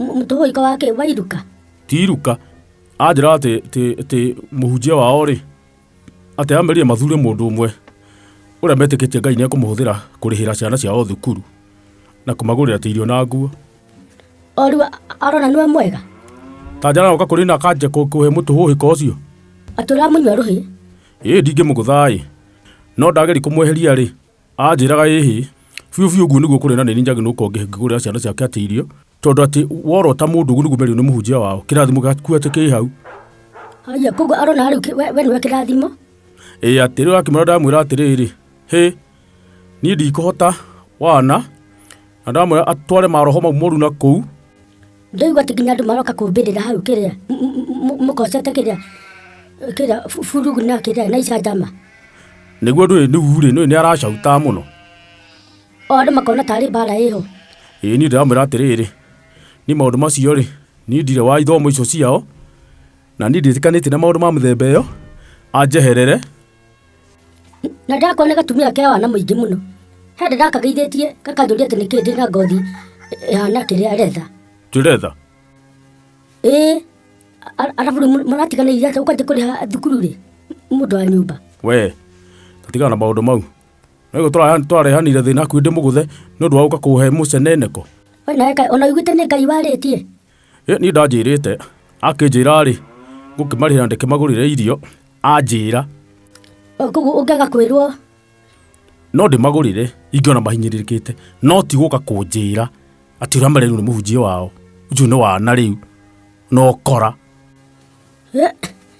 M- mũtũhũika wa kĩ wa iruka ti iruka anjĩra atĩ atĩ- atĩ mũhunjia wao rĩ atĩ amerire mathure mũndũ ũmwe ũrĩa metĩkĩtie ngai nĩekũmũhũthĩra kũrĩhĩra ciana ciao thukuru na kũmagũrĩra atĩ irio na nguo o rĩu arona nĩwe mwega tanjara oka kũrĩ na akanje kũ- kũhe mũtũhũhĩka ũcio atũramũnyua rũhĩ ĩĩ ndingĩmũgũthaĩ no ndageri kũmweheria rĩ Aanjĩraga, Ĩhĩ, biũ biũ ũguo nĩguo kũrĩ na nĩ niĩ njagĩrĩirwo gũkorwo ngĩkĩgũrĩra ciana ciake atĩ irio, tondũ atĩ worota mũndũ ũguo nĩguo merirwo nĩ mũhunjia wao, kĩrathimo gĩaku atĩ kĩ hau. Haya, koguo arona rĩu kĩ- we we nĩwe kĩrathimo. Ĩ atĩ rĩu akĩmwĩra ndamwĩra atĩrĩrĩ, hĩ, niĩ ndikũhota wana, na ndamwĩra atware maroho mau moru na kũu ndoigua atĩ nginya andũ maroka kũmbĩrĩra hau kĩrĩa m- m- m- mũkocete kĩrĩa kĩrĩa bu- burugu na kĩrĩa na icanjama nĩguo ndũĩ nĩu-rĩ nĩũĩ nĩ aracautaa mũno o andũ makona tarĩ mbara ĩho ĩĩ niĩ ndĩramwĩra atĩrĩrĩ nĩ maũndũ macio-rĩ niĩ ndirĩ wa ithomo icio ciao na niĩ ndĩtĩkanĩtie na maũndũ ma mĩthemba ĩyo anjeherere na ndakona gatumia ke wana mũingĩ mũno hende ndakagaithĩtie gakanjũria atĩ nĩkĩ ndĩ na ngothi ĩhana kĩrĩa retha tũretha ĩĩ a- arabu rĩu mũ- mũratiganĩire atĩ ũkanjĩ kũrĩha thukuru rĩ mũndũ wa nyũmba we tũtigana na maũndũ mau nĩguo twarehanire thĩna akuĩ ndĩ mũgũthe nĩ ũndũ wa gũka kũhe mũceneneko we nawe Ngai- ona wiguĩte nĩ ngai warĩtie Ĩ niĩ ndanjĩrĩte akĩnjĩra-rĩ ngũkĩmarĩhĩra ndĩkĩmagũrĩre irio anjĩra Koguo ũngĩaga kwĩrwo no ndĩmagũrĩre ingĩona mahinyĩrĩrĩkĩte no ti gũka kũnjĩra atĩ ũrĩa marerĩu nĩ mũhunjia wao ũcio nĩ wana rĩu na ũkora.